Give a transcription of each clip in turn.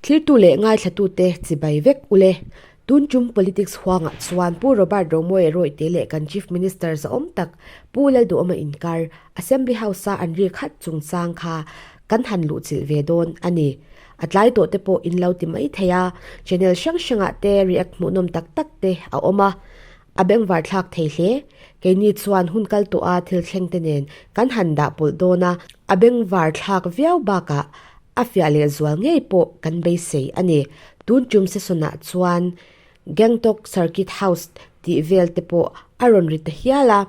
Thiltu leh ngaithlatute chibai vek u le. Tun tum politics huangah chuan Pu Robert Rawngmawia rawihte leh kan Chief Minister zaawm tak Pu Lalduhawma inkar Assembly House-a an ri khat chungchang kha kan han luhchilh ve dawn a ni. A tlai tawhte pawh in lo ti mai thei a, channel hrang hrangah te react hmuhnawm tak takte a awm a, A beng var thlak thei hle. Keini chuan hun kal tawh a thil thleng te nen kan han dah pawlh dawn a, a beng var thlak viau bakah a fiah leh zual ngei pawh kan beisei a ni. Tun tum sesawnah chuan Gangtok Circuit House tih vel te pawh a rawn ri ta hial a.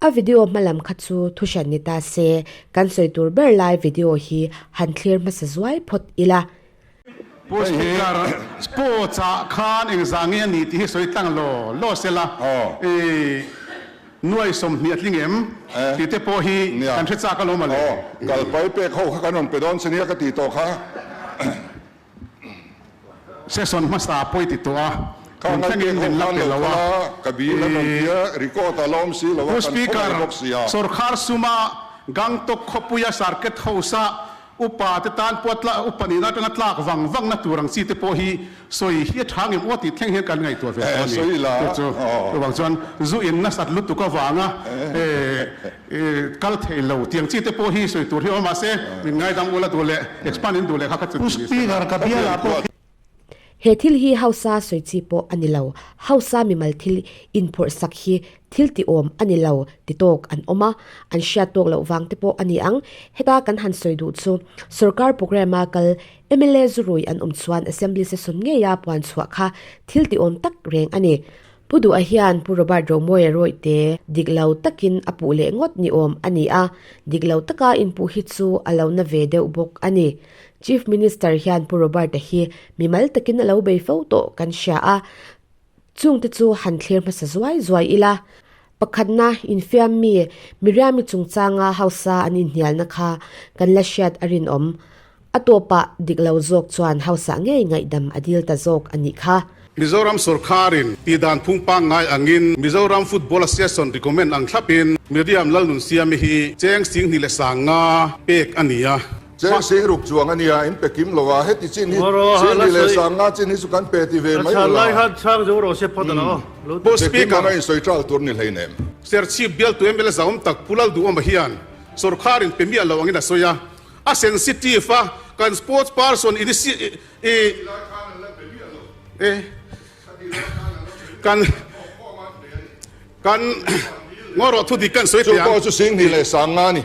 A video hma lam kha chu thu hran ni ta se, kan sawi tur ber lai video hi han thlir hmasa zuai phawt ila. Pushticker, Sports ah khan eng za nge a ni tih hi sawi tlang law law se la, i nuai sawmhnih a tling em tih te pawh hi kan hre chak alawm a le. Kalpai pek ho kha kan rawn pe dawn se nia ka ti tawh kha. Session hmasa pawi ti tawh a, tun tlangin min la pe lo a, i Pushticker, Sorkhar suma Gangtok khawpuia Sarket House ah Upa te tan pawh a upa nih na atanga tlak vang vang na tur ang chi te pawh hi sawi hi a tha ngem aw tih thleng hian kan ngaihtuah ve tawh a ni. Chu chu chu vang chuan zu in nasat lutuk avang a kal theih lo tih ang chi te pawh hi sawi tur hi a awm a mahse min ngaidam ula duh leh expand in duh leh kha kha chu ti ni se lo. He thil hi hausa sawi chi pawh a ni lo, hausa mimal thil inphawrh sak hi thil ti awm a ni lo ti tawk an awm a, an hriat tawk loh vang te pawh a ni ang. Heta kan han sawi duh chu sawrkar programme a kal mla zu rui an awm chuan assembly session ngei a puan chhuah kha thil ti awm tak reng a ni. Pu Duha hian Pu Robert Romoe erawihte dik lo takin a puh leh ngawt ni awm a ni a, dik lo taka inpuh hi chu a lo na ve deuh bawk a ni. Chief Minister hian Pu Robert-a hi mi mal takin a lo bei fo tawh kan hria a, chungte chu han thlir hmasa zuai zuai ila. Pakhatna, infiammi Miriami chungchanga hausa an inhnialna kha kan la hriat a rinawm. A tawpah dik lo zawk chuan hausa ngei ngaihdam a dil ta zawk a nih kha. Mizoram sorkarin tih dan phung pangngai angin Mizoram Football Association recommend ang thlapin Miriam Lalnunsiami hi cheng sing hnih leh sang nga pek a ni a. Cheng sih ruk chuang a nia, in pe kim lo a, heti chin hi Sir ni leh Sang nga chin hi chu kan pe ti ve mai ula. Pu Speaker a insawi tal tur ni hlei nem. Sir Chief bial tu MLA zaawm tak Pu Lalduhawma hian sorkar in pe miah lo angin a sawi a, a sensitive a, kan sports person kan ngaw rawh thu dik kan sawi thei ang. Chu pawh chu Sing ni leh Sang nga a ni.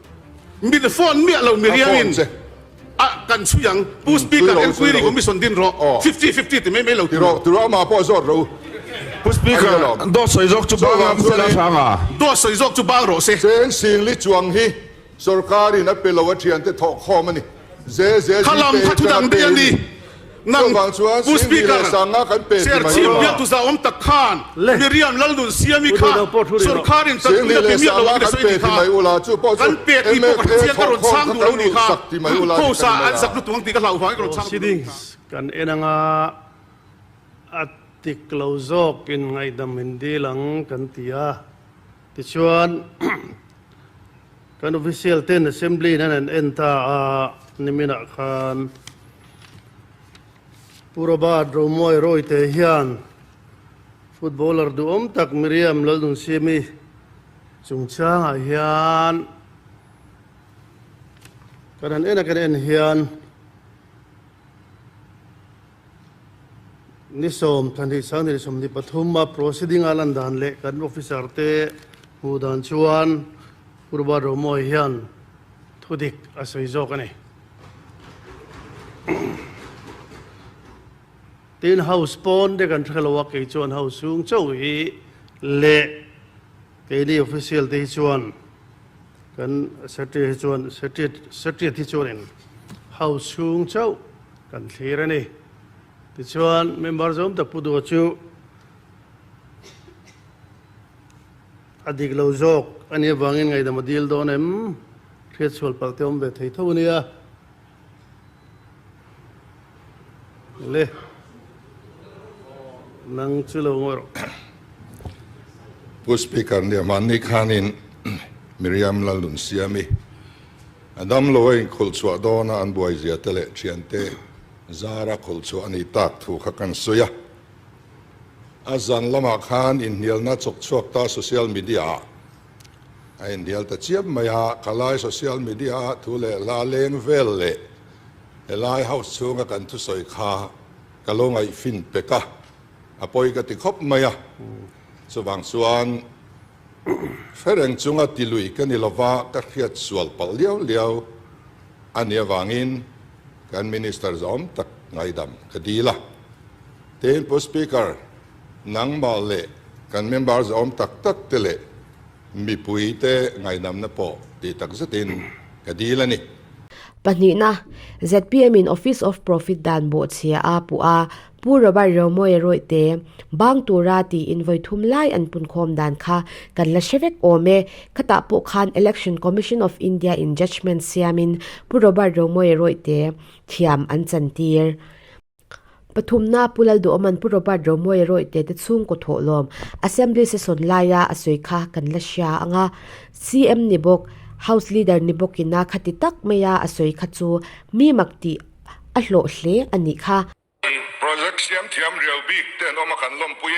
Min a phone miah lo mi riang in a kan chhui ang pu speaker enquiry kawng mi sawn din rawh fifty fifty ti mai mai lo ti rawh ti rawh amah pawh zawt ro pu speaker dawt sawi zawk chu bang ang sela sang a dawt sawi zawk chu bang rawh se. Cheng singli chuang hi sorkar in a pe lo a thiante thawk khawm a ni. Kha lam kha thudang dei a ni. Nang Pu Speaker, Serchhip biaktu zahawm tak khan Miriam Lalnunsiami kha sorkar in chanpui-na pi miah lo ang resawi ni kha kan pek tih pawh ka hre chiang ka rawn chhang duh lo ni kha Khawsa an zak lutuk ang tih ka hlau vang i ka rawn chhang duh lo ni kha. Kan en anga a tik lo zawk in ngaihdam hin dil ang kan ti a. Tichuan, kan official ten assembly in an han en ta a, niminah khan Purabat Romuai Rawite hian footballer duhawm tak Miriam Lalnunsiami chungchangah hian kan han en a kan en hian, Ni sawm, Thanhrisang ni leh sawm ni pathum a proceeding-a lan dan leh kan officer te hmuh dan chuan Purba Romawi hian thu dik a sawi zawk a ni. Tin, House pawn te kan hre lo a, kei chuan House chhung chauh hi leh Keini official te hi chuan kan secretary hi chuan secretariat hi chuan in house chhung chauh kan thlir a ni. Tichuan member zawm tak pu duh chu a dik lo zawk a nih avangin ngaidam a dil dawn em? Hriatchhual palh te awm ve thei tho a nia. le nang chu lo ngawih rawh. Pu Speaker nia mahni khanin Miriam Lalunsiami a damlo a inkhulh chhuah dawn a, an buaizia te leh thiante zar a khulh chhuah a nih tak thu kha kan sawi a. A zan lamah khan inhnialna chawk chhuak ta social media ah, A inhnial ta chiam mai a, ka lai social media ah thu leh hla leng vel leh helai house chhunga kan thusawi kha ka lo ngaihfin pek a, a pawi ka ti khawp mai a, chuvang chuan Fereng chunga ti lui ka ni lova ka hriat sual palh liau liau a nia vangin kan Minister zawm tak ngaidam ka dil a. Tein Pu Speaker, Nangmah leh kan member zawm tak tak te leh mipui te ngaihnamna pawh ti tak zet in ka dil a ni. Pahnihna, zpm in Office of Profit dan bawhchhia a puh a, Pu Robert Reumawi Reuhte bang tura ti in vawi thum lai an punkhawm dan kha kan la hre vek awm e, khatah pawh khan Election Commission of India in judgement siam in Pu Robert Reumawi Reuhte thiam an chantir. Pathumna a pu Lalduhawm an pu Robert Romawi Roite te chhungkaw thawhlawm Assembly session laia a sawi kha kan la hria ang a, CM ni bawk, House Leader ni bawk ina kha ti tak mai a, a sawi kha chu mi mak tih a hlawh hle a nih kha. Project siam thiam riau bik te an awm a kan lawmpui.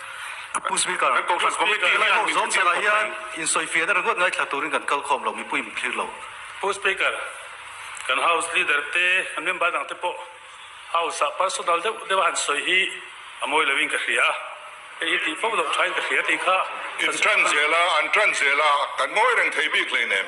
Pu Speaker, kan Kohhran Committee hi an zawm chhakah hian insawifian a ringawt ngai thla turin kan kal khawm lo, mipui min thlir lo. Pu Speaker, kan House Leader te, kan member dang te pawh House ah personal deuh deuha an sawi hi a mawi lo in ka hria a, hei hi tih fo loh thain ka hria tih kha ka zir a. Intran zel a, an tran zel a, kan mawi reng thei bik hleinem.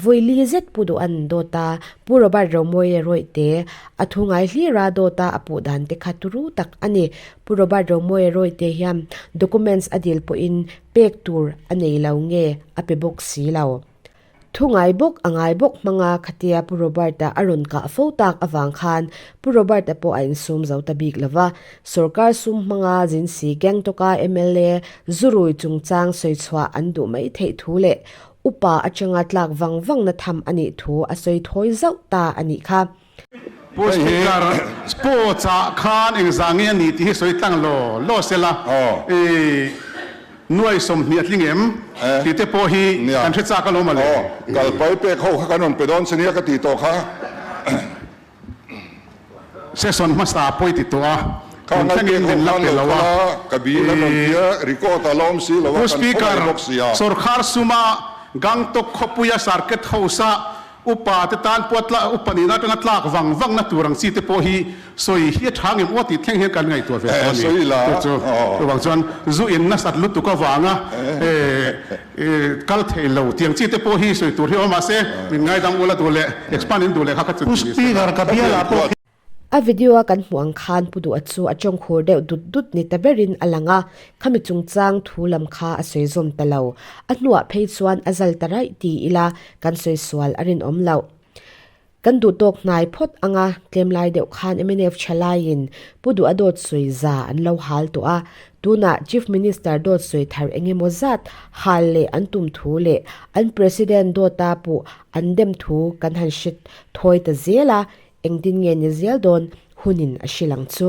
Vawi li zet pu duh an dawt a, Pu Robert Romawi e Rawihte, a thu ngai hlir a dawt a, a puh dan te kha turu tak a ni. Pu Robert Romawi e Rawihte hian documents a dil pawh in pek tur a nei lo nge a pe bawk si lo. Thu ngai bawk a ngai bawk hmang a khatia Pu Robert a a rawn kah fo tak avang khan Pu Robert a pawh a in sum zo ta bik lo va, sorkar sum hmang a zin si Gangtok a mla Zu Rui chungchang sawi chhuah an duh mai theih thu leh Upa atanga tlak vang vangna tham a nih thu a sawi thawi zauh ta a nih kha. Paul Stigler, Sports ah khan eng za nge a ni tih hi sawi tlang law law a sela, nuai sawmhnih a tling em tih te pawh hi kan hre chak alawm a le. Kalpai pek ho kha kan rawn pe dawn se nia ka ti tawk a. Session hmasa a pawi ti tawh a, min thlengin in nen lak teh lo a. Pu Speaker, sawrkhar suma Gangtok khawpuia Circuit House a upa te tan pawh a upa nih na atanga tlak vang vang na tur ang chi te pawh hi sawi hi a tha ngem uaih tih thleng hian kan ngaihtuah ve tawh a ni. Chu vang chuan zu in nasat lutuk avanga I kal thei lo tiang chi te pawh hi sawi tur hi a awm mah se min ngaidam ula duh leh expand in duh leh kha kha chu ti ni sa ka bial ah pawh khi. A video a kan hmuh ang khan pu duhah chu a tawngkhur deuh dut dut ni ta berin a lang a, khami chungchang thu lam kha a sawi zawm ta lo. A hnuah phei chuan a zal ta raih ti ila kan sawi sual a rinawm loh. Kan duh tawk hnai phawt ang a, tlemlai deuh khan mnf tha laiin Pu Duh a dawt sawi za an lo hal tawh a, tunah Chief Minister dawt sawi thar eng emaw zat hal leh an tum thu leh an President dawta puh an dem thu kan han hre thawi ta zel a, engtin nge ni zel dawn hunin a hrilang chu.